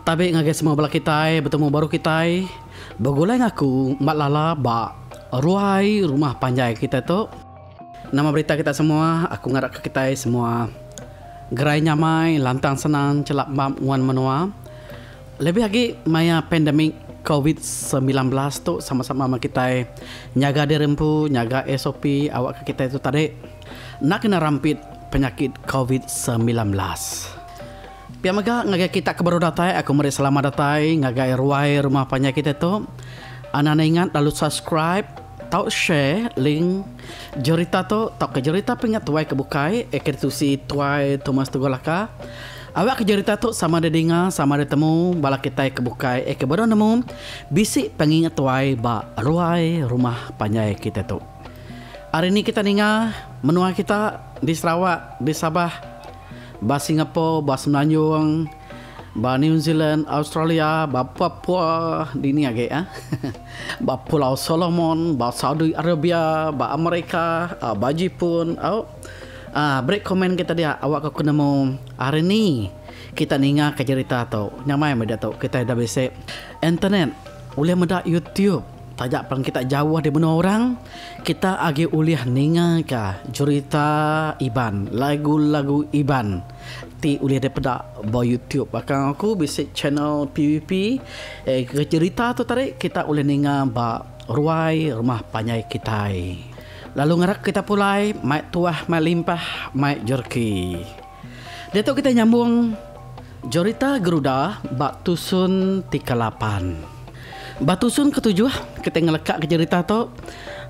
Tabi ngagai semua bala kitai betemu baru kitai begulai ngaku ba lala ba ruai rumah panjai kitai tu. Nama berita kitai semua aku ngarapka kitai semua gerai nyamai lantang senang chelap map nguan menua lebih agi maya pandemik covid semilan belas tu sama-sama meh kitai nyaga diri empu nyaga SOP awakka kitai tu tadi. Enda kena rampit penyakit covid semilan belas. Pia mega ngagai kita ke baru datai aku meri selamat datai ngagai ruai rumah panjai kita tu. Anak ne ingat lalu subscribe tau share link jerita tu tauka jerita pinga tuai ke bukai eh ke ditusi tuai Thomas Tugul Laka. Awak ke jerita tu sama ada dinga sama ada temu bala kitai ke bukai eh ke baru nemu bisi pengingat tuai ba ruai rumah panjai kita tu. Hari ni kita ninga menua kita di Sarawak, di Sabah, ba Singapore, ba Semenanjung, ba New Zealand, Australia, ba Papua, dini agi ah, ba Pulau Solomon, ba Saudi Arabia, ba Amerika, ba Jipun. Au. Ah, beri komen kita dia awak ke ku nemu hari ni kita ninga ke jerita tu. Nyamai meda tu kita ida bisi internet, ulih meda YouTube. Taja pan kita jauh di menua orang, kita agi ulih ningaka cherita Iban, lagu-lagu Iban ti ulih dipeda ba YouTube. Baka aku bisi channel PVP ke cherita tu tadi kita ulih ninga ba ruai rumah panjai kitai. Lalu ngarak kita pulai mai tuah mai limpah mai jerki. Diatu kitai nyambung jerita Geruda ba tusun ti kelapan. Ba tusun ketujuh, kitai ngelekaka jerita tu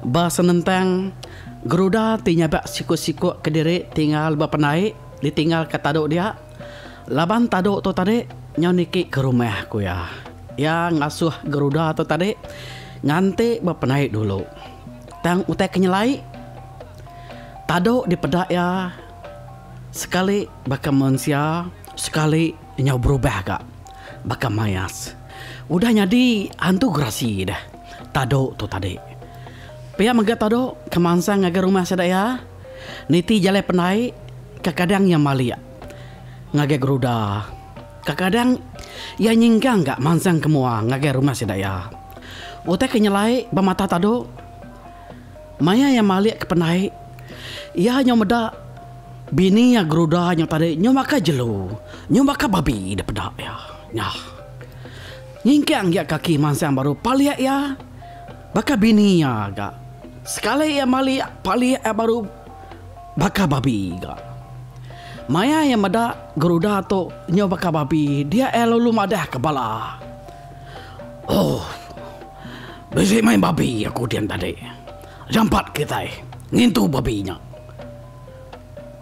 ba senentang Geruda ti nyabak siku-siku kediri tinggal ba pendai ditinggalka tadu dia laban tadu tu tadi nyau niki ke rumah ku iya. Iya ngasuh Geruda tu tadi nganti ba pendai dulu. Tang utai ke nyelai, tadu dipeda iya Sekali baka mensia, sekali nyau berubah ga baka mayas. Udah nyadi hantu gerasi deh Tado tu tadi. Pia mega Tado ke mansang ngagai rumah sida iya, niti jalai pendai kekadang iya malik ngagai geruda, kekadang iya nyingkang ga mansang ke mua ngagai rumah sida iya. Utai ke nyelai ba mata Tado. Maya iya malik ke pendai, iya nyau meda bini iya geruda nyau tadi nyau baka jelu, nyau baka babi di peda iya. Nya. Nyingkang aja kaki mansang baru palik iya baka bini iya ga. Sekali iya malik, palik iya baru baka babi ga. Maya iya meda geruda tu nyau baka babi, dia iya lalu madah ke bala. Ooh. Bisi meh babi aku dian tadi. Jampat kitai ngintu babi nya.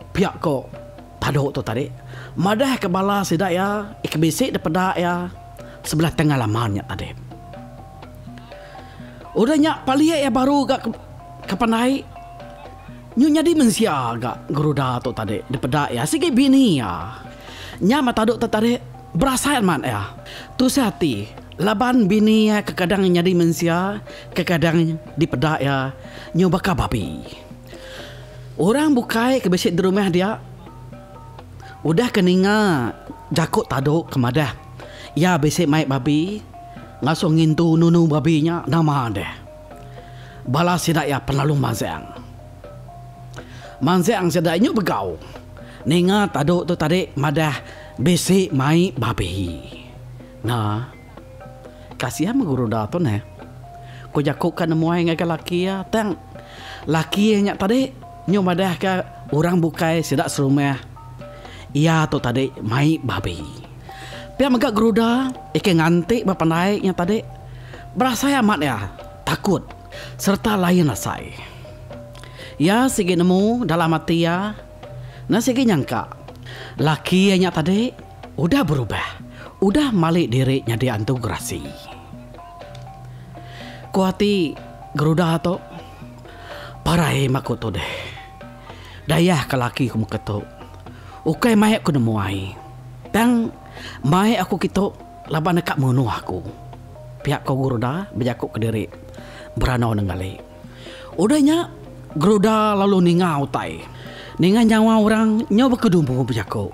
Pia ko Tadok tu tadi madah ke bala sida iya ke bisi dipeda iya sebelah tengah laman nya tadi. Udah nya palik iya baru ga ke pandai. Nyu nyadi mensia ga geruda tu tadi dipeda iya sigi bini iya. Nya mata duk tetarik berasai amat iya. Tusah ati laban bini iya kekadang nyadi mensia kekadang dipeda iya nyu baka babi. Orang bukai ke bisi di rumah dia udah ke ninga jaku tadu ke madah iya bisi mai babi langsung ngintu nunu babi nya nama deh. Bala sida iya penalung Manzeng. Manzeng sida inyu begau ninga tadu tu tadi madah bisi mai babi. Nga. Kasian meh guru da tu neh. Ku jaku ka nemuai ngagai laki iya tang laki iya nya tadi nyu madahka orang bukai sida serumah iya tu tadi mai babi. Pia mega Geruda ikai nganti ba pandai nya tadi berasai amat iya takut sereta lain asai. Iya sigi nemu dalam ati iya enda sigi nyangka laki iya nya tadi udah berubah, udah mali diri nyadi antu gerasi. Ku ati Geruda tu, Parai maku tu deh. Dayahka laki ku meka tu. Ukai mai aku nemu ai. Tang mai aku kitu laban deka munuh aku. Pia ko Guruda bejaku kediri berandau nenggali. Udah nya Guruda lalu ninga utai ninga nyawa orang nyau baka dumu bejaku.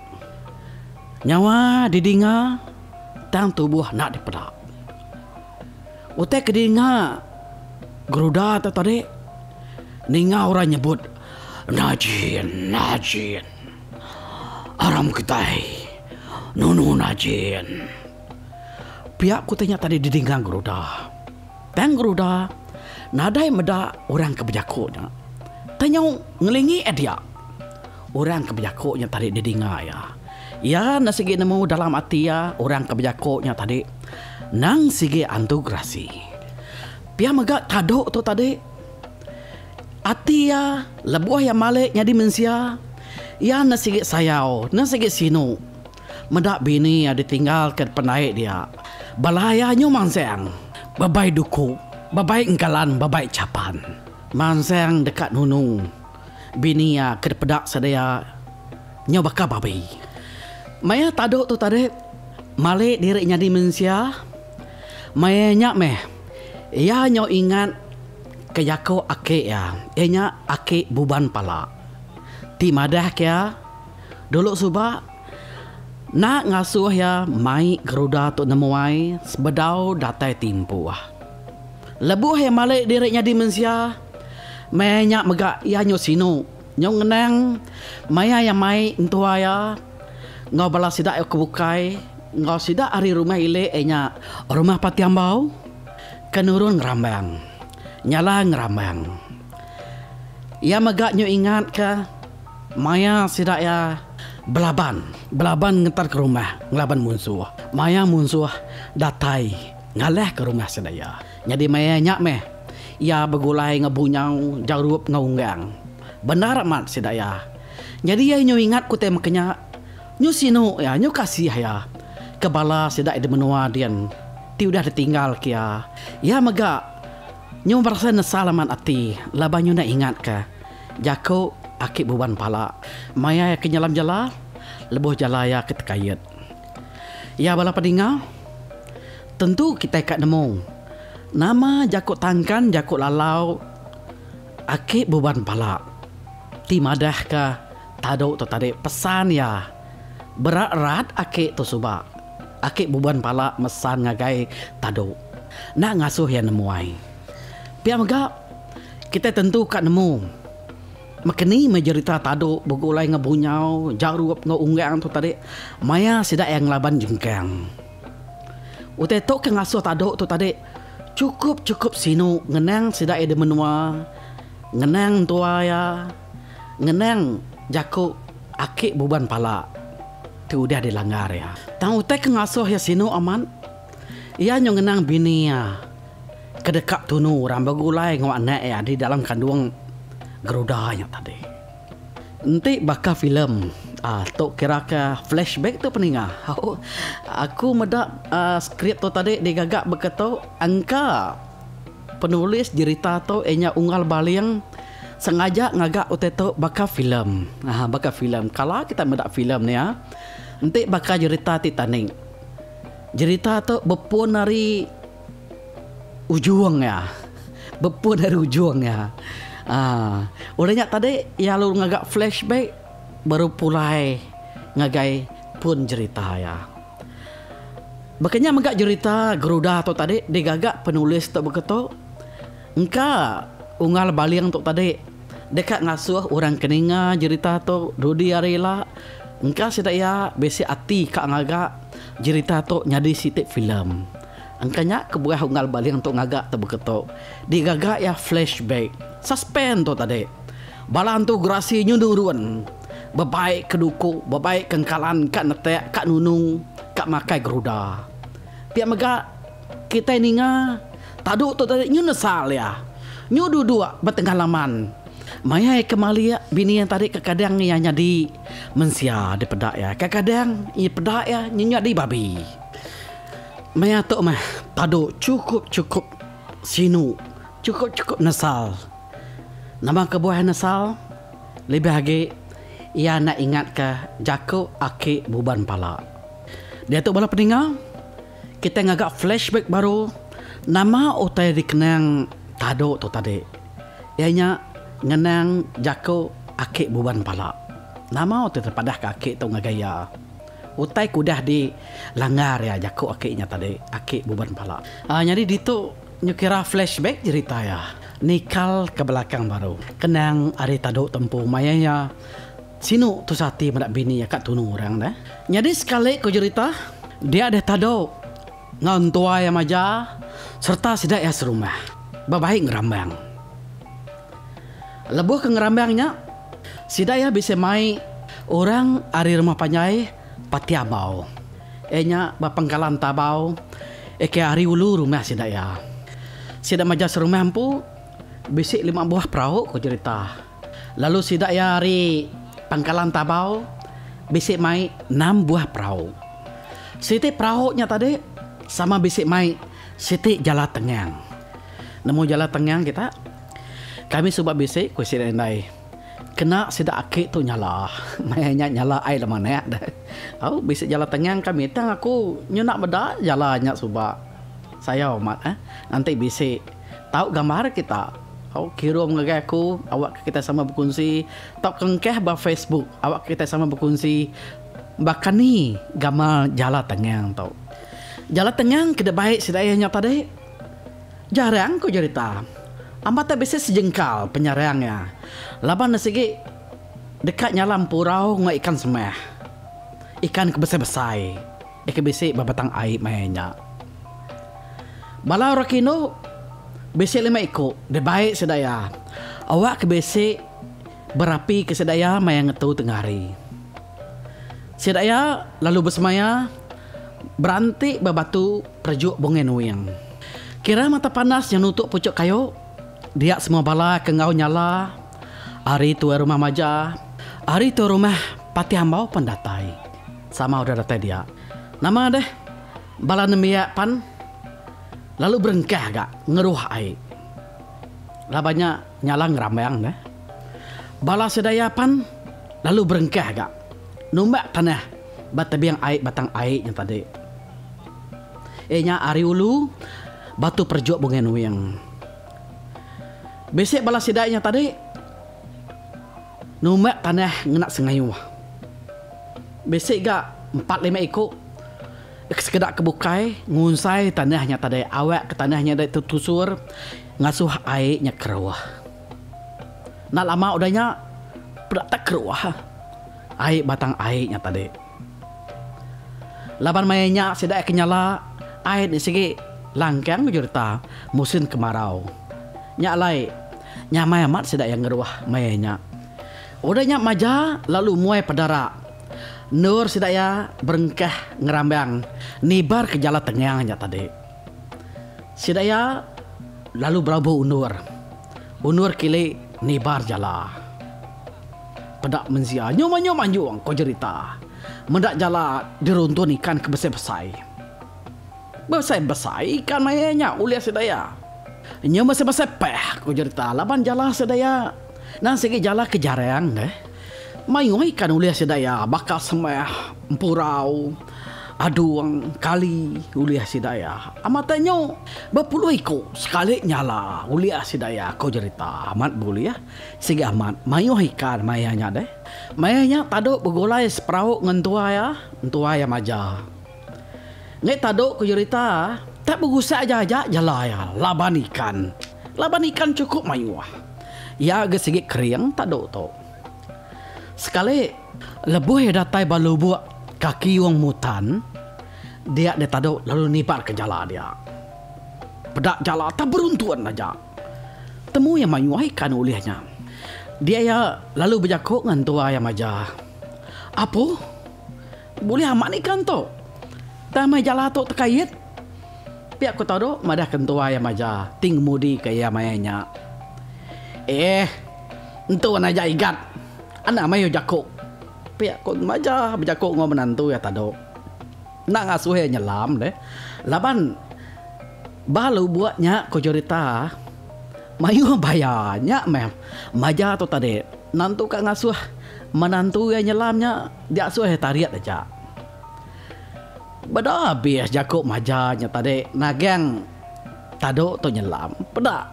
Nyawa didinga tang tubuh enda dipeda. Utai ke dinga Geruda tu tadi ninga orang nyebut Najin Najin aram kitai nunu Najin. Pia ku utai nya tadi didinga Geruda. Tang Geruda nadai meda orang ke bejaku nya tanyau ngelingi iya dia. Orang ke bejako nya tadi didinga iya. Iya enda sigi nemu dalam ati iya orang ke bejako nya tadi nang sigi antu gerasi. Pia mega kado tu tadi. Ati iya lebuh iya malik nyadi mensia, iya enda sigi sayau, enda sigi sinu meda bini iya ditinggalka pendai dia. Bala iya nyu mansang bebai duku, bebai engkalan, bebai chapan. Mansang deka nunung Bini iya ke dipeda sedia nyau baka babi. Maya tadu tu tadi malik diri nyadi mensia, maya nya meh iya nyau ingat ka jaku aki iya, iya nya aki Buban Pala ti madah ka iya dulu suba enda ngasuh iya mai geruda tu nemu ai sebedau datai timpuh. Lebuh iya malik diri nyadi mensia. Maya nya mega iya nyu sinu, nyu ngenang maya iya mai entua iya enggau bala sida iya ke bukai enggau sida ari rumah ili iya nya Rumah Pati Ambau ke nurun ngerambang, nyala ngerambang. Iya mega nyu ingatka maya sida iya belaban, belaban ngeterka rumah ngelaban munsuh. Maya munsuh datai ngalahka rumah sida iya. Nyadi maya nya meh iya begulai enggau bunyau jarup enggau unggang. Bendar amat sida iya. Nyadi iya nyu ingat ku tema kenya, nyu sinu iya, nyu kasih iya ke bala sida di menua din ti udah ditinggal ke iya. Iya mega nyu berasai nesal amat ati laban nyu enda ingat ke jaku aki buban pala maya iya ke nyelam jela lebuh jela iya ke tekait. Iya bala pedinga. Tentu kitai ka nemu. Nama jaku tangkan jaku lalau aki buban pala ti madahka tadu tu tadi pesan iya berat rat aki tu suba aki buban pala mesan ngagai tadu enda ngasuh iya nemuai. Pia mega kitai tentu ka nemu mekeni meh jerita tadu begulai enggau bunyau, jarup enggau unggang tu tadi maya sida iya ngelaban jengkang. Utai tu ke ngasuh tadu tu tadi chukup chukup sinu ngenang sida iya di menua ngenang entua iya ngenang jaku aki buban pala ti udah di langgar iya. Tang utai ke ngasuh iya sinu amat iya nyau ngenang bini iya ke deka tunu orang begulai enggau anak iya di dalam kandung geruda nya tadi. Enti baka filem uhh tu kiraka flashback tu peninga uhh aku meda uhh skrip tu tadi digaga baka tu engka penulis jerita tu iya nya Unggal Baling sengaja ngaga utai tu baka filem uhh baka filem kala kita meda filem nya enti baka jerita Titanic jerita tu bepun ari. Ujung iya. Bepun ari ujung iya. Aa. Udah nya tadi iya lalu ngaga flashback baru pulai ngagai pun jerita iya. Baka nya mega jerita Geruda tu tadi digaga penulis tu baka tu. Engka Unggal Baling tu tadi deka ngasuh orang ke ninga jerita tu dudi hari ila. Engka sida iya bisi ati ka ngaga jerita tu nyadi siti filem. Engka nya kebuah unggal baling tu ngaga tebeka tu. Digaga iya flashback. Suspense tu tadi. Bala antu gerasi nyu nurun. Bebai ke duku, bebai ke engkalan ka netek, ka nunung, ka makai geruda. Pia mega kitai ninga tadu tu tadi nyu nesal iya. Nyu duduk betengah laman maya iya kemalik bini iya tadi kekadang iya nyadi mensia dipeda iya. Kekadang peda iya nyu nyadi babi. Maya tu meh padu chukup-chukup sinu, chukup-chukup nesal. Nama kebuah nesal? Lebih agi iya enda ingatka jaku aki buban pala. Diatu bala peninga, kitai ngaga flashback baru nama utai dikenang Tadu tu tadi. Iya nya ngenang jaku aki buban pala. Nama utai terpadahka aki tu ngagai iya? Utai ke udah di langgar iya jaku aki nya tadi, aki Buban Pala. Nyadi ditu nyu kira flashback jerita iya nikal ke belakang baru. Kenang ari tadu tempu maya iya sinu tusah ati meda bini iya ka tunu orang deh. Nyadi sekali ku jerita dia deh tadu Enggau entua iya maja sereta sida iya serumah bebai ngerambang. Lebuh ke ngerambang nya, sida iya bisi mai orang ari rumah panjai Pati Abau. Iya nya ba Pangkalan Tabau, ke ari ulu rumah sida iya. Sida maja serumah empu bisi lima buah perau, ku cherita. Lalu sida iya ari Pangkalan Tabau bisi mai enam buah perau. Siti perau nya tadi sama bisi mai siti jala tengang. Nemu jala tengang kita? Kami suba bisi, ku sida indai. Kena sida aki tu nyala. Maya nya nyala ai lama anak deh. Au, bisi jala tengang kami tang aku nyunak meda jala nya suba. Sayau amat eh. Enti bisi. Tau gambar kita. Tau kirum ngagai aku awakka kitai sama bekunsi tau kengkah ba Facebook awakka kitai sama bekunsi bakani gamal Jala Tengang tu. Jala Tengang ke dibai sida iya nya tadi jarang ku jerita. Ambata bisi sejengkal penyarang iya laban ne sigi deka nyala empurau enggau ikan semah. Ikan ke besai-besai. Deka bisi ba batang ai maya nya. Bala orang kinu bisi lima iku, deh baik sida iya. Awak ke bisi berapi ke sida iya maya ngetu tengah hari. Sida iya lalu besemaya beranti ba batu perejuk Bungai Nuing. Kira mata panas nyau nutuk puchuk kayu, dia semua bala ke enggau nyala ari tuai rumah Majah, ari tuai rumah Patih Ambau pan datai. Sama udah datai dia. Nama deh bala nembiak pan lalu berengkah ga ngeruh ai. Laban nya nyala ngerambang deh. Bala sedaya pan lalu berengkah ga numbak tanah ba tebing ai batang ai nya tadi. Iya nya ari ulu Batu Perjuk Bungai Nuing. Bisi bala sida nya tadi. Numat panah ngena sengayuh. Bisi ga empat lima iku ke sekeda ke bukai ngunsai tanah nya tadi awak ke tanah nya dei tetusur ngasuh ai nya keruh. Enda lama udah nya peda tak keruh ai batang ai nya tadi. Laban maya nya sida ai kenyala ai enti sigi langkang ke jurta musin kemarau. Nya alai, nyamai amat sida iya ngeruh maya nya. Udah nya maja lalu muai pedara endur sida iya berengkah ngerambang nibar ke jala tengang nya tadi. Sida iya lalu berabu endur. Undur kili nibar jala. Peda menzia nyum anyum anjung ko jerita. Meda jala diruntun ikan ke besai besai. Besai besai ikan maie nya ulih sida ia. Nyum besai besai peh ko jerita laban jala sida ia nan sigi jala ke jarang deh. Mayuh ikan ulih sida ia baka semeh, empurau. Adung kali ulih sida iya. Amat ai nyu. Bepuluh iku sekali nyala ulih sida iya, ko jerita amat beulih. Sigi amat mayuh ikan mai iya nya deh. Mai iya nya tadu begulai seperau ngan entua iya, entua iya maja. Ngi tadu ko jerita tak begusak aja aja jela iya laban ikan. Laban ikan cukup mayuh. Iya ga sigi kering tadu tu. Sekali, lebuh iya datai ba lubuk kaki Wong Mutan, dia enda tadu lalu nibarka jala dia. Peda jala tau beruntun aja. Temu iya mayuh ai kan ulih nya. Dia iya lalu bejaku ngan tuai iya maja, Apuh! Bulih amat ni kan tu. Tang meh jala tu tekait. Pia ku Tado madah ke entua iya maja ti ngemudi ke iya maya nya. Eh, entu an aja igat. Enda mayuh jaku. Pia ku maja bejaku enggau menantu iya Tado. Enda ngasuh iya nyelam deh. Laban ba lubuk nya ku Jurita mayuh baya. Nya meh maja tu tadi. Nentu ka ngasuh menantu iya nyelam nya. Dia suah tarit aja. Beda abis jaku maja nya tadi nagang tadu tu nyelam. Peda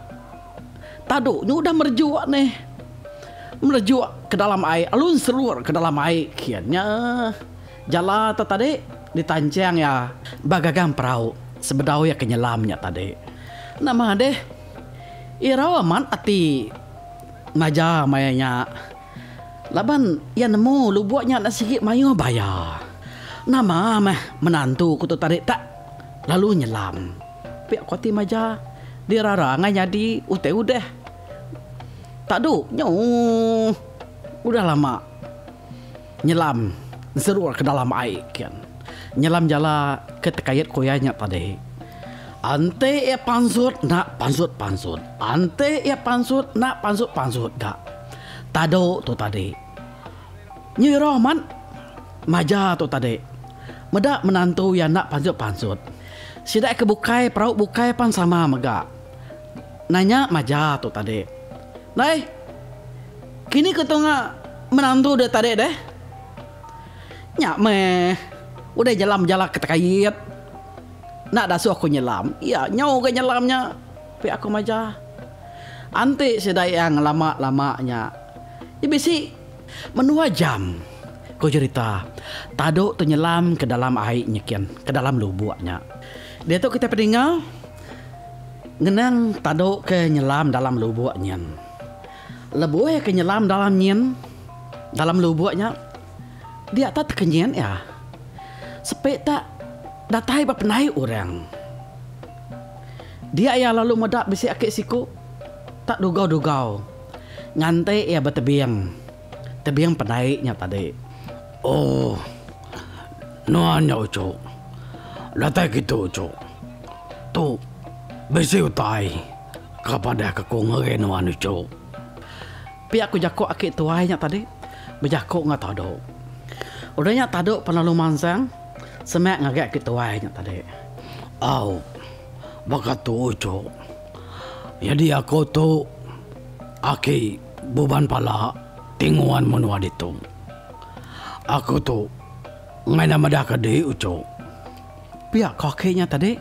tadu nya udah merejuk nih. Merejuk ke dalam ai lalu nserut ke dalam ai kin nya. Jala tu tadi ditanchang iya ba gagang perau sebedau iya ke nyelam nya tadi. Nama deh irau amat ati maja maya nya. Laban iya nemu lubuk nya enda sigi mayuh baya. Nama meh menantu ku tu tadi tak lalu nyelam. Pia ku ati Maja, dirara angai nyadi utai udah. Tadu nyu udah lama nyelam serur ke dalam ai kin. Nyelam jala ke tekait ku iya nya tadi. Enti iya pansut enda pansut-pansut, enti iya pansut enda pansut-pansut ga. Tado tu tadi. Nyi roh mat maja tu tadi. Meda menantu iya enda pansut-pansut. Sida ke bukai perau bukai pan sama mega. Nanya maja tu tadi. Dai, kini ke tunga menantu deh tadi deh? Nya meh. Udah nyelam jala ketekait. Enda dasuh aku nyelam. Iya nyau ga nyelam nya. Pia aku maja. Enti sida iya ngelama lama nya. Iya bisi. Menua jam. Ko jerita. Tadu tu nyelam ke dalam ai nyikin. Ke dalam lubuk nya. Diatu kitai pedinga. Ngenang tadu ke nyelam dalam lubuk nyin. Lebuh ke nyelam dalam nyin. Dalam lubuk nya. Dia tak tekenyit iya. Sepi tak. Datai ba penai urang. Dia iya lalu meda bisi aki siku tak dugau-dugau nganti iya betebing. Tebing pendai nya tadi. Ooh. Nuan nya uchu. Datai kitu uchu. Tu bisi utai ka padah ke ku ngagai nuan uchu. Pia ku jaku aki tuai nya tadi bejaku enggau Tadu. Udah nya Tadu pan lalu mansang semak ngagai aki tuai nya tadi. Au. baka tu ucuk. Nyadi aku tu aki buban pala ti nguan menua ditu. Aku tu ngaida medahka diri ucuk. Pia ko aki nya tadi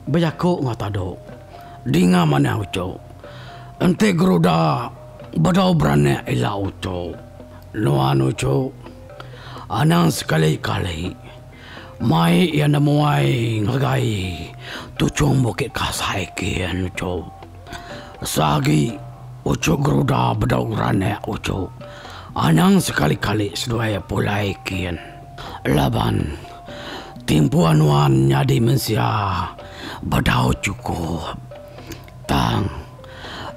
bejaku enggau Tadu. Dinga manah ucuk. Enti geruda bedau beranak ila ucuk. Nuan ucuk. Anang sekali kali. Mai iya nemuai ngeregai tuchung bukit kasai kin uchu. Esa agi uchu geruda bedau ranak uchu. Anang sekali-kali seduai pulai kin. Laban timpuan nuan nyadi mensia bedau chukup. Tang.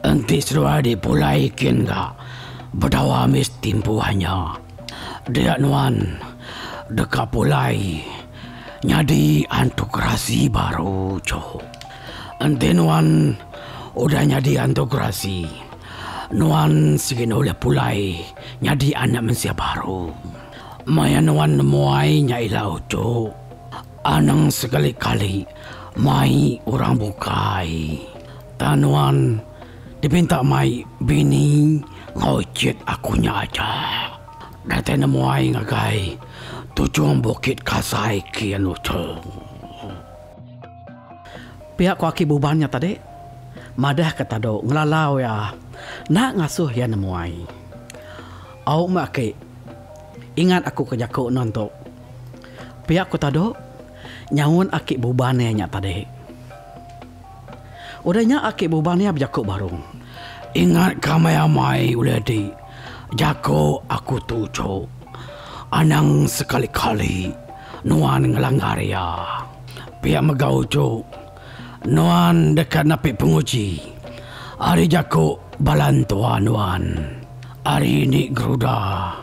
Enti seduai dipulai kin ga bedawa mis timpuh nya. Dia nuan deka pulai nyadi antu gerasi baru choo. Enti nuan udah nyadi antu gerasi, nuan sigi ulih pulai nyadi anak mensia baru. Maya nuan nemuai nya ila uchu. Anang sekali-kali mai orang bukai. Tang nuan dipinta mai bini enggau icit aku nya aja. Datai nemuai ngagai Tujung Bukit Kasai ke anu cheng. Pia ko aki Buban nya tadi madah ke tadu ngelalau iya enda ngasuh iya nemuai. Au meh aki ingat aku ke jaku nuan tu. Pia ku Tado nyaut aki Buban iya nya tadi. Udah nya aki Buban iya bejaku barung. Ingat ka meh amai ulih di jaku aku tu cu. Anang sekali-kali nuan ngelanggar iya. Pia mega uchu. Nuan deka napi penguji ari jaku bala entua nuan ari ni geruda,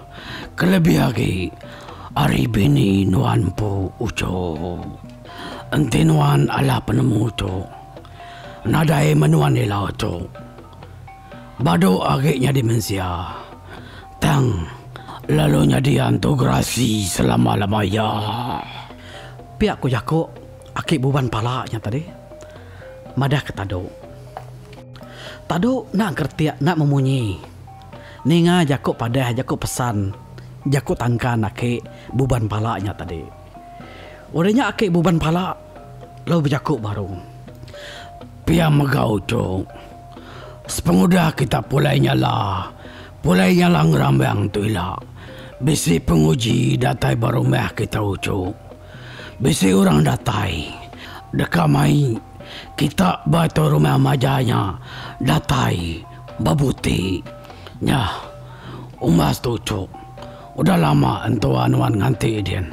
kelebih agi ari bini nuan empu uchu. Enti nuan alah penemu tu, nadai menuan ila tu badu agi nyadi mensia, tang lalu nyadi antu gerasi selama-lama iya. Pia ku jaku. Aki Buban Pala nya tadi madah ke Tadu. Tadu enda ngeretik, enda memunyi. Ninga jaku padah, jaku pesan, jaku tangkan aki Buban Pala nya tadi. Udah nya aki Buban Pala lalu bejaku baru. Pia mega uchu. Sepengudah kita pulai nyala, pulai nyala ngerambang tu ila bisi penguji datai ba rumah kita uchu. Bisi orang datai deka mai kita ba tu rumah maja nya datai ba buti nya umbas tu cuk udah lama entua nuan nganti din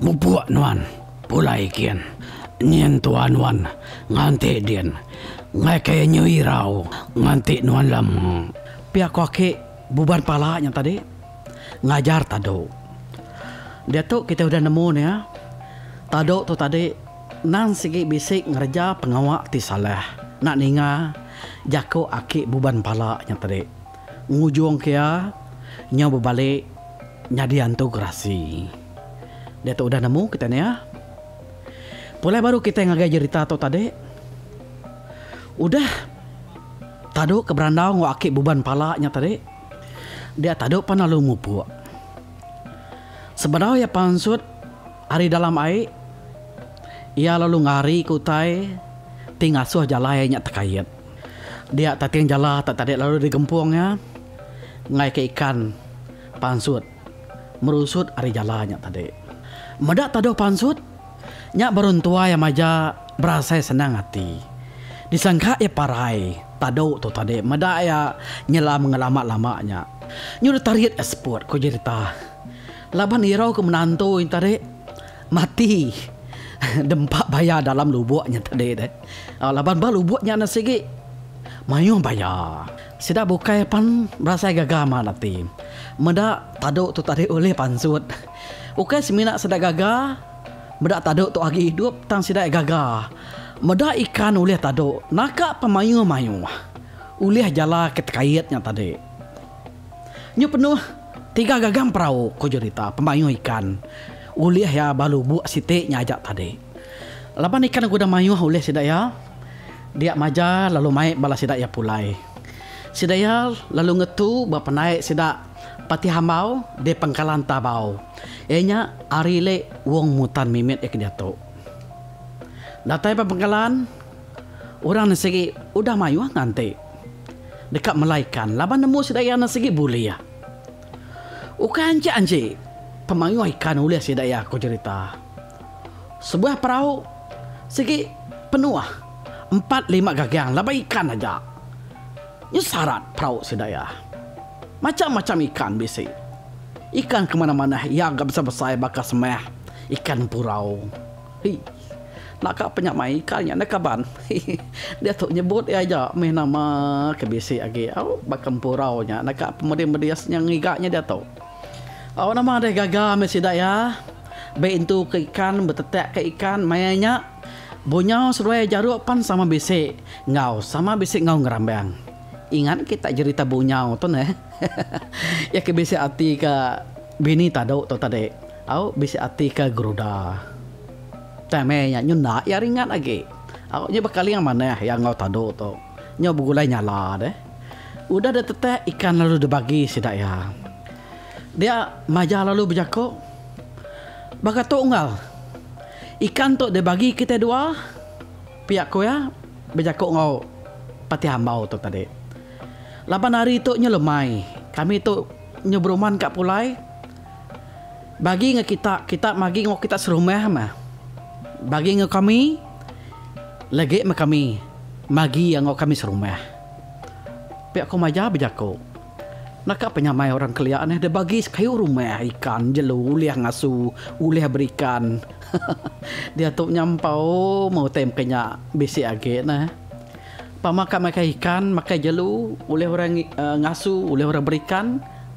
mupuk nuan pulai kin nyi entua nuan nganti din ngai ke nyu irau nganti nuan lama. Pia ko aki buban pala nya tadi. ngajar tadu. Diatu kitai udah nemu nya, tadu tu tadi endang sigi bisi ngereja pengawa ti salah enda ninga jaku aki buban pala nya tadi. Ngujungka iya nyau bebalik nyadi antu gerasi. Diatu udah nemu kitai nya. Pulai baru kitai ngagai jerita tu tadi. Udah tadu ke berandau enggau aki buban pala nya tadi. Dia tadu pan lalu mupuk. Sebedau iya pansut ari dalam ai, iya lalu ngari ke utai ti ngasuh jalai nya tekait. Dia tating jala tak tadi lalu digempung iya ngaika ikan pansut merusut ari jala nya tadi. Meda taduh pansut. Nya baru entuai iya maja berasai senang ati. Disangka iya parai, tadu tu tadi meda iya nyela mengelamak lama nya. Nyudah tarit iya seput, ku Jerita. Laban irau ke menantu nya tadi mati dempa baya dalam lubuk nya tadi deh. Laban ba lubuk nya sigi mayuh baya. Sida bukai pan berasai gaga mat ati. Meda tadu tu tadi ulih pansut. Ukai semina sida gaga meda tadu tu agi idup tang sida gaga meda ikan ulih tadu naka pemayuh-mayuh ulih jala ke tekait nya tadi. Nyu penuh tiga gagang perau ku jurita pemayuh ikan ulih iya ba lubuk siti nya aja tadi. Laban ikan ke udah mayuh ulih sida iya dia maja lalu mai bala sida iya pulai. Sida iya lalu ngetu ba pandai sida. Pati Hambau di Pangkalan Tabau iya nya ari le Wong Mutan mimit iya ke diatu. Datai ba Pangkalan, orang nya sigi udah mayuh nganti deka melai ikan laban nemu sida iya nya sigi bulih. Ukai anji-anji pemayuh ikan ulih sida iya ku jerita. Sebuah perau sigi penuh empat lima gagang laban ikan aja. Nya sarat perau sedaya. Macham-macham ikan bisi. Ikan ke manah-manah iya ga besai-besai baka semah ikan empurau. Hii. Enda ka panya mai ikan nya neh kaban. Diatu nyebut iya aja meh nama ke bisi agi au baka empurau nya enda ka pemedis-medis nya ngiga nya diatu. Au nama deh gaga meh sida iya. Bei entu ke ikan betetak ke ikan maya nya. Bunyau seduai jaru pan sama bisi. Enggau sama bisi enggau ngerambang. Ingat ke tak jerita bunyau tu neh. Iya ke bisi ati ke bini tadu tu tadi. Au bisi ati ke geruda. Tang meh iya nyu enda iya ringat agi. Au nyu bekaling manah iya enggau tadu tu. Nyu begulai nyala deh. Udah deh tetak ikan lalu dibagi sida iya. Dia maja lalu bejaku, Baka tu enggau. Ikan tu dibagi kitai dua. Pia ku iya bejaku enggau Patih Ambau tu tadi. Laban hari tu nyu lemai, kami tu nyu beruman ka pulai bagi enggau kita, kita bagi enggau kita serumah meh bagi enggau kami legi meh kami bagi enggau kami serumah. Pia ku Majah bejaku. Naka penyamai orang kelia neh deh bagi sekayu rumah ikan jelu ulih ngasu ulih berikan diatu nya empau meh utai meka nya bisi agi neh pama ka makai ikan makai jelu ulih orang ngasu ulih orang berikan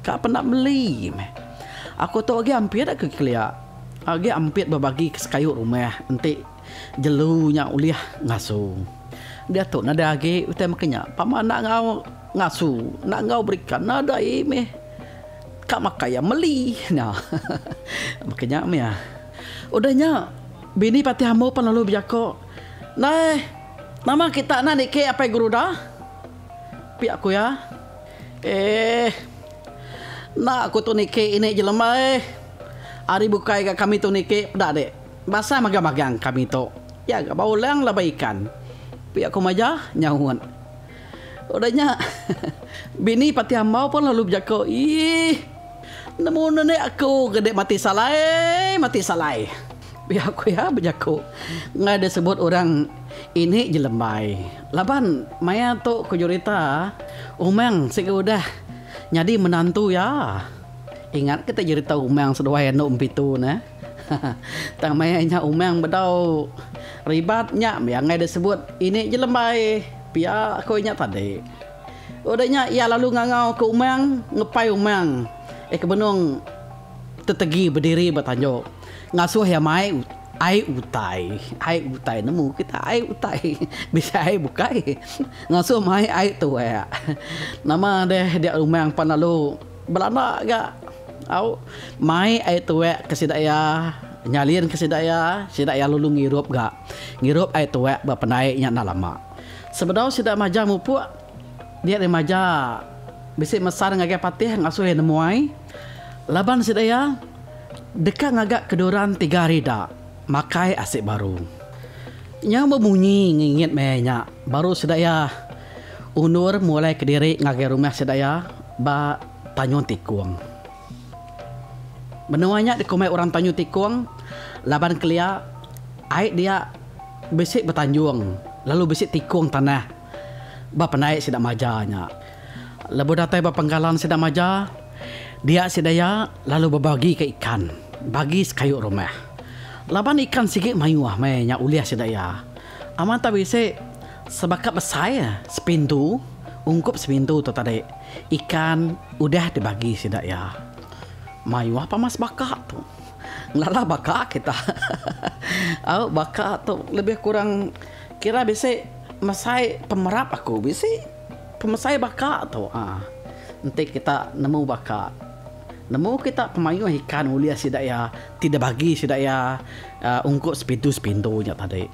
ka penda meli meh aku tu agi ampit agi kelia agi ampit bebagi sekayu rumah enti. Jelu nya ulih ngasu. Dia tu nadai agi utai maka nya. Pama enda enggau ngasu, enda enggau berikan, nadai meh ka makai iya meli nya. Maka nya meh ah. Udah nya bini Patih Ambo pan lalu bejako, Neh, nama kita enda niki Apai Guruda? Pia ku iya. Eeh. Enda ku tu niki ini jelemba eh. Ari bukai ga kami tu niki peda dik. Basa mega magang kami tu iya ga bau lang laban ikan. Pia ku majah nyaut. Udah nya bini pati ambau pun lalu bejaku iih nemu nene aku ga dek mati salai mati salai pia ku iya bejaku enggau dia sebut orang ini jelembai laban maya tu ku jurita umang sigi udah nyadi menantu iya. Ingat ke ti jurita umang seduai andu empitu ne. Tang maya inya umang bedau ribat nya mih angai deh sebut ini je lembai pia ko inya tadi. Udah nya iya lalu ngangau ke umang ngepai umang eh ke benung tetegi bediri ba tanjok ngasuh iya mai ai utai. Ai utai nemu kita ai utai bisi ai bukai ngasuh mai ai tuak. Nama deh dia umang pan lalu belanda ga. Au mai ai tuek ke sida ia nyalin ke sida ia, sida ia lalu ngirup ga ngirup ai tuek ba pendai nya enda lama. Sebedau sida majau mupuk, dia deh maja bisi mesar ngagai Patih ngasuh ia nemuai laban sida ia deka ngaga keduran tiga hari ida makai asi baru. Nyau bemunyi ngingit meh ia nya baru sida ia undur mulai kediri ngagai rumah sida ia ba. Tanjung Tikung. Menua nya dikumbai orang Tanjung Tikung laban kelia ai dia bisi betanjung lalu bisi tikung tanah ba pendai sida maja nya. Lebuh datai ba penggalan sida maja dia sida iya lalu bebagika ikan bagi sekayu rumah. Laban ikan sigi mayuh meh nya ulih sida iya. Amat tak bisi. Sebaka besai sepintu ungkup sepintu tu tadi ikan udah dibagi sida iya. Mayuh pah mas baka tu. Ngelala baka kita. Au baka tu lebih kurang kira bisi mesai pemerap aku bisi pemesai baka tu uhh. Enti kita nemu baka nemu kita pemayuh ikan ulih sida iya. Ti dibagi sida iya ungkup sepintu-sepintu nya tadi.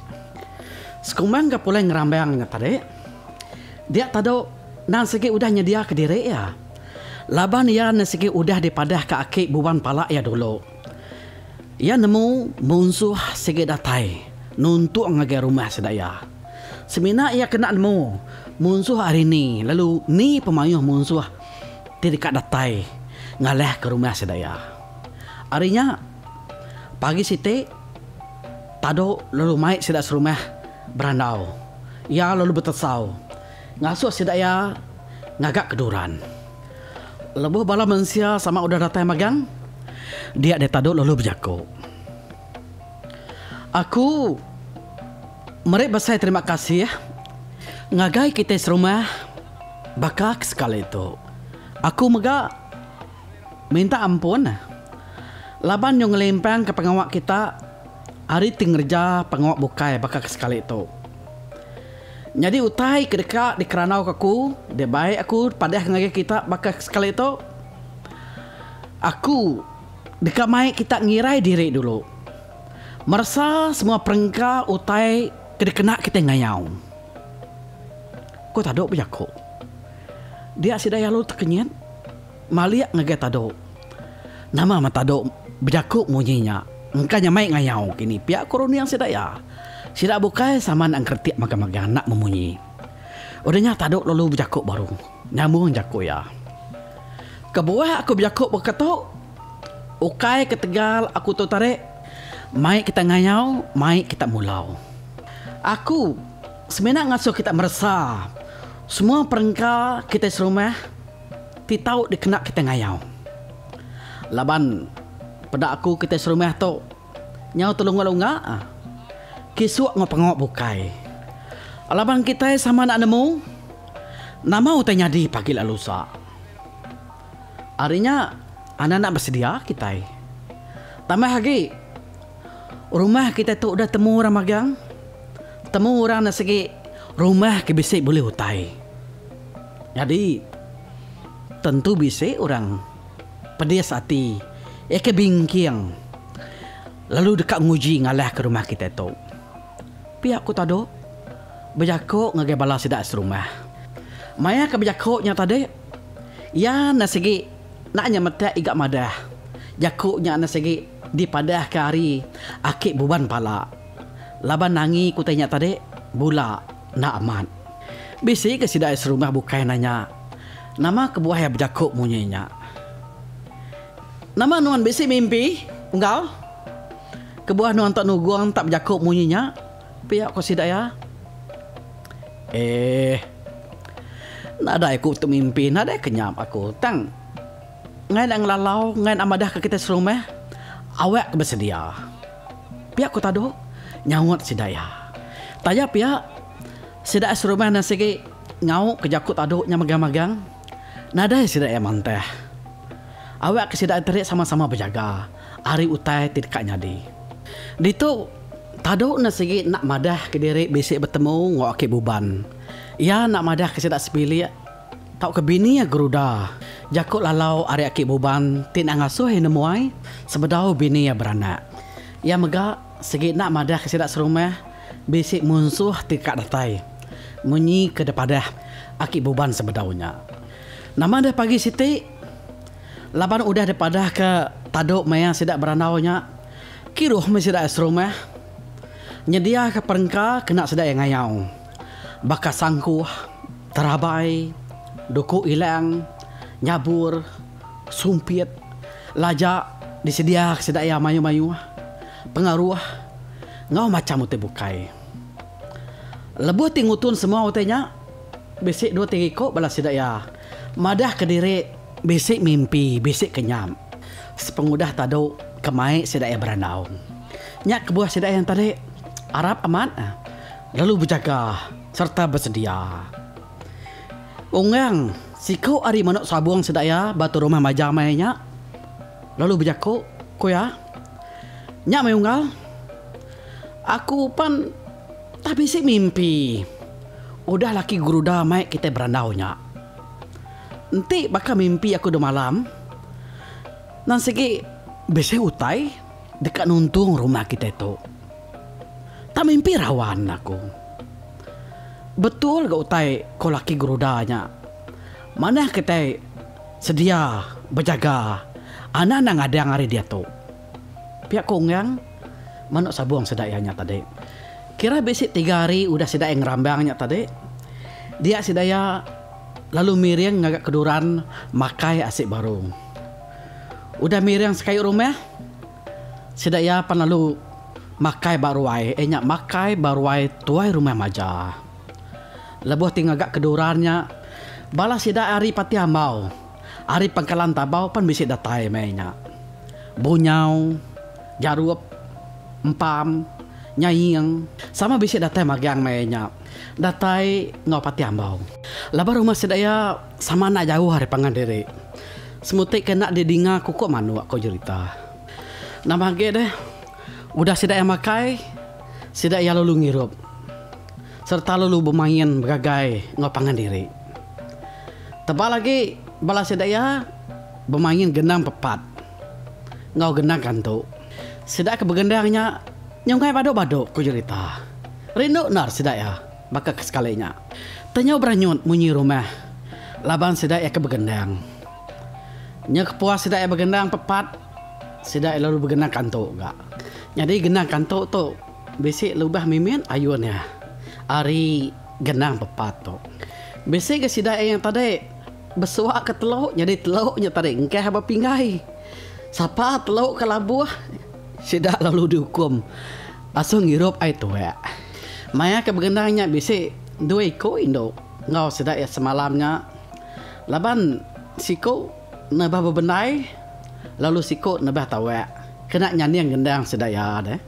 Sekumbang ke pulai ngerambang nya tadi, dia tadu nan sigi udah nyediaka diri iya. Laban iya ne sigi udah dipadahka aki buan pala iya dulu. Iya nemu munsuh sigi datai nuntung ngagai rumah sida iya. Semina iya kena nemu munsuh ari ni lalu ni pemayuh munsuh ti deka datai ngalahka rumah sida iya. Ari nya, pagi siti, Tado lalu mai sida serumah berandau. Iya lalu betesau ngasuh sida iya ngaga ke duran. Lebuh bala mensia sama udah datai magang, dia deh Tado lalu bejaku, Aku meri besai terima kasih ngagai kitai serumah baka ke sekali tu. Aku mega. Minta ampun laban nyu ngelimpangka pengawa kita ari ti ngereja pengawa bukai baka ke sekali tu. Nyadi utai ke deka dikerandauka aku, dia bai aku padah ngagai kita baka ke sekali tu, aku deka mai kita ngirai diri dulu meresa semua perengka utai ke dikena kitai ngayau. Ku Tadu bejaku. Dia sida alu tekenyit. Malik ngagai Tado. Nama meh Tado bejaku munyi nya. Engka nya mai ngayau kini pia ko runding sida iya. Sida bukai sama enda engkeretik magang-magang anak memunyi. Udah nya Tado lalu bejaku baru. Nyambung jaku iya. Kebuah aku bejaku baka tu, ukai ketegal aku tu tarik, mai kita ngayau, mai kita mulau. Aku semina ngasuh kita meresa semua perengka kitai serumah. Ti tau dikena kitai ngayau. Laban peda aku kitai serumah tu nyau telunga-lunga kisuk enggau pengawa bukai. Laban kitai sama enda nemu nama utai nyadi pagi ila lusa. Ari nya anang enda besedia kitai. Tambah agi rumah kitai tu udah temu orang magang, temu orang enda sigi rumah ke bisi bulih utai. Nyadi, tentu bisi orang pedis ati iya ke bingking lalu deka nguji ngalahka rumah kitai tu. Pia ku Tado bejako ngagai bala sida serumah. Maya ke bejako nya tadi, iya enda sigi enda nya metek iga madah. Jako nya enda sigi dipadahka ari aki buban pala laban angi ku tai nya tadi bula. Enda amat. Bisi ke sida ai serumah bukai nanya, Nama kebuah iya bejaku munyi nya? Nama nuan bisi mimpi, Unggal? Kebuah nuan tok nugung enta bejaku munyi nya? pia ku sida iya. Eh. Nadai aku tu mimpi, nadai ke nyap aku. Tang ngai enda ngelalau, ngai enda madahka kitai serumah, awakka besedia. Pia ku Tadu nyaut sida iya. Taja pia, sida iya serumah endang sigi ngau ke jaku Tadu nya megang-megang. Nadai sida iya mantah. Awakka sida iya terik sama-sama bejaga ari utai ti deka nyadi. Ditu, Tadu enda sigi enda madahka diri bisi betemu enggau Aki Buban. Iya enda madahka sida sebilik Tauka bini iya geruda. Jaku lalau ari aki Buban ti enda ngasuh iya nemu ai, sebedau bini iya beranak. Iya mega sigi enda madahka sida serumah bisi munsuh ti ka datai. Munyi ke dipadah aki Buban sebedau nya. Nama deh pagi siti? Laban udah dipadahka tadu maya sida berandau nya, kiruh meh sida iya serumah. Nyediaka perengka kena sida iya ngayau. Baka sangkuh, terabai, duku ilang, nyabur, sumpit, laja disediaka sida iya mayuh-mayuh pengaruh enggau macham utai bukai. Lebuh ti ngutun semua utai nya, bisi dua tiga iku bala sida iya madahka diri bisi mimpi, bisi kenyam sepengudah tadu ke mai sida iya berandau. Nya kebuah sida iya enti tadi. Arap amat. lalu bejaga sereta besedia. Onggang, siku ari manuk sabung sida iya ba tu rumah majam ai nya, lalu bejaku, ku iya, Nya meh unggal. Aku pan tah bisi mimpi udah laki Guruda mai kitai berandau nya. Enti baka mimpi aku demalam, nan sigi bisi utai deka nuntung rumah kitai tu. Tang mimpi rawan aku. Betul ga utai ko laki Guruda nya. Manah kitai sedia bejaga anak enda ngadang ari diatu. Pia ko Onggang, manuk sabung sida iya nya tadi. Kira bisi tiga hari udah sida iya ngerambang nya tadi. Dia sida iya lalu miring ngaga keduran makai asi baru. Udah miring sekayu rumah. Sida iya pan lalu makai ba ruai eh nya makai ba ruai tuai rumah maja. Lebuh ti ngaga keduran nya, bala sida ari Patih Ambau, ari Pangkalan Tabau pan bisi datai meh nya. Bunyau, Jarup, Empam, Nyaing sama bisi datai magang meh nya datai enggau Patih Ambau. Laban rumah sida iya. Sama enda jauh ari pangan diri. Semuti ke enda didinga kuko manuk ko jerita. Nambah agi deh, udah sida iya makai, sida iya lalu ngirup sereta lalu bemain begagai enggau pangan diri. Tebal agi bala sida iya bemain gendang pepat enggau gendang kantu. Sida ke begendang nya nyungai badu-badu ko jerita. Rindu endar sida iya. Baka ke sekali nya, Tanyau beranyut munyi rumah laban sida iya ke begendang. Nya kepuas sida iya begendang pepat, sida iya lalu begendang kantu ga. Nyadi gendang kantu tu bisi lubah mimit ayun iya ari gendang pepat tu. Bisi ga sida iya yang tadi besuak ke telu nyadi telu nya tadi engkah ba pinggai. Sapa telu ke labuh sida lalu diukum. Asu ngirup ai tuak. Maya ke begendang nya bisi dua iku indu enggau sida iya semalam nya laban siku nebah bebendai lalu siku nebah tawak kena nyanding gendang sida iya deh.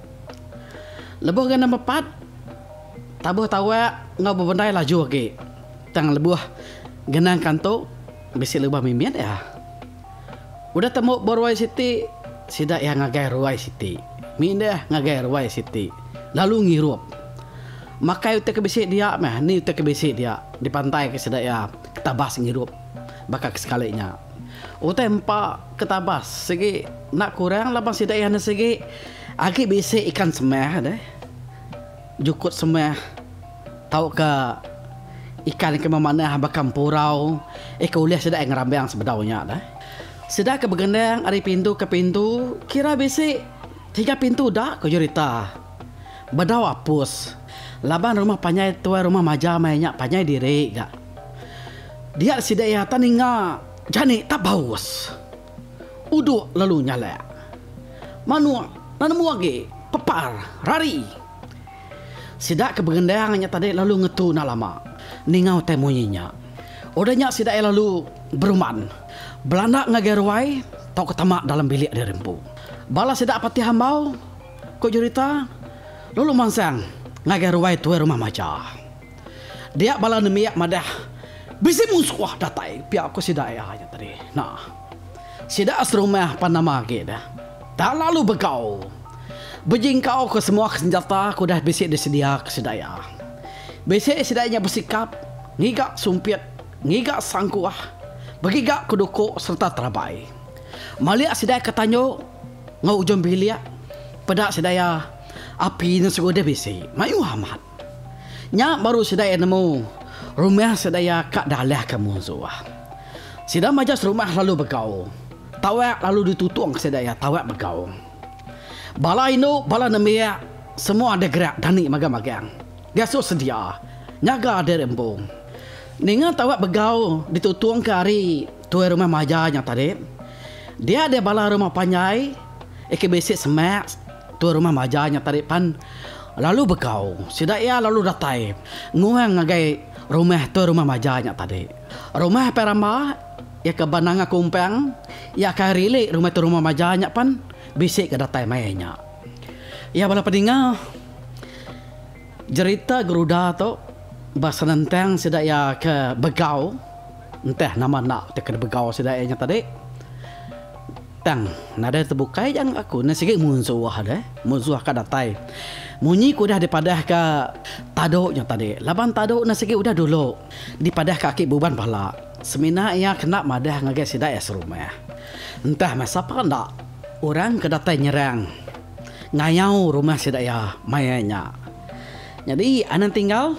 Lebuh gana mepat tabuh tawak enggau bebendai laju agi tang lebuh gendang kantu bisi lubah mimit iya. Udah temu ba ruai siti, sida iya ngagai ruai siti, mindah ngagai ruai siti, lalu ngirup. Makai utai ke bisi dia meh ni utai ke bisi dia dipantaika sida iya ketabas ngirup baka ke sekali nya. Utai empa ketabas sigi enda kurang laban sida iya ne sigi agi bisi ikan semeh deh. Jukut semeh tauka ikan ke memanah baka empurau ika ulih sida ngerambang sebedau nya deh. Sida ke begendang ari pintu ke pintu kira bisi tiga pintu da ku Jurita bedau apus laban rumah panjai tuai rumah maja meh nya panjai diri ga dia sida ia ta ninga jani ta baus. Uduk lalu nyalak. Manuk nan nemu agi, pepar, rari. Sida ke begendang nya tadi lalu ngetu enda lama ninga utai munyi nya. Udah nya sida iya lalu berumban, belanda ngagai ruai tauka tama dalam bilik diri empu. Bala sida patih ambau, ku jerita, lalu mansang ngagai ruai tuai rumah macha. Dia bala nembiak madah, Bisi munsuh datai pia ku sida iya nya tadi. Nah. Sida serumah pan nama agi dah. Tak lalu begau. Bejingkau ke semua ke senjata ke udah bisi disedia ke sida iya. Bisi sida nya besikap ngiga sumpit, ngiga sangkuh, begiga ke duku sereta terabai. Malik sida ke tanyu enggau ujung bilik peda sida iya api nya segudih bisi. Mayuh amat. Nya baru sida iya nemu rumah sida iya ka dalahka munsuh. Sida maja serumah lalu begau. Tawak lalu ditutungka sida iya tawak begau. Bala indu bala nembiak semua deh gerak dani magang-magang gasus sedia nyaga diri empu. Ninga tawak begau ditutungka ari Tuai rumah maja nya tadi. Dia dia bala rumah panjai ika bisi semak tuai rumah maja nya tadi pan lalu begau. Sida iya lalu datai nguang ngagai rumah tuai rumah maja nya tadi. Rumah Pai Ramba iya ke ba Nanga Kumpang iya kai rili rumah tuai rumah maja nya pan bisi ke datai mai nya. Iya bala pedinga jerita geruda tu ba senentang sida iya ke begau. Entah nama enda ti kena begau sida iya nya tadi. Tang nadai tebukai aja enggau aku ne sigi munsuh deh. Munsuh ka datai. Munyi ku udah dipadahka Tadu nya tadi laban Tadu ne sigi udah dulu dipadahka aki Buban bala. Semina iya kena madah ngagai sida iya serumah. Entah meh sapa enda orang ke datai nyerang ngayau rumah sida iya maya nya. Nyadi anang tinggal.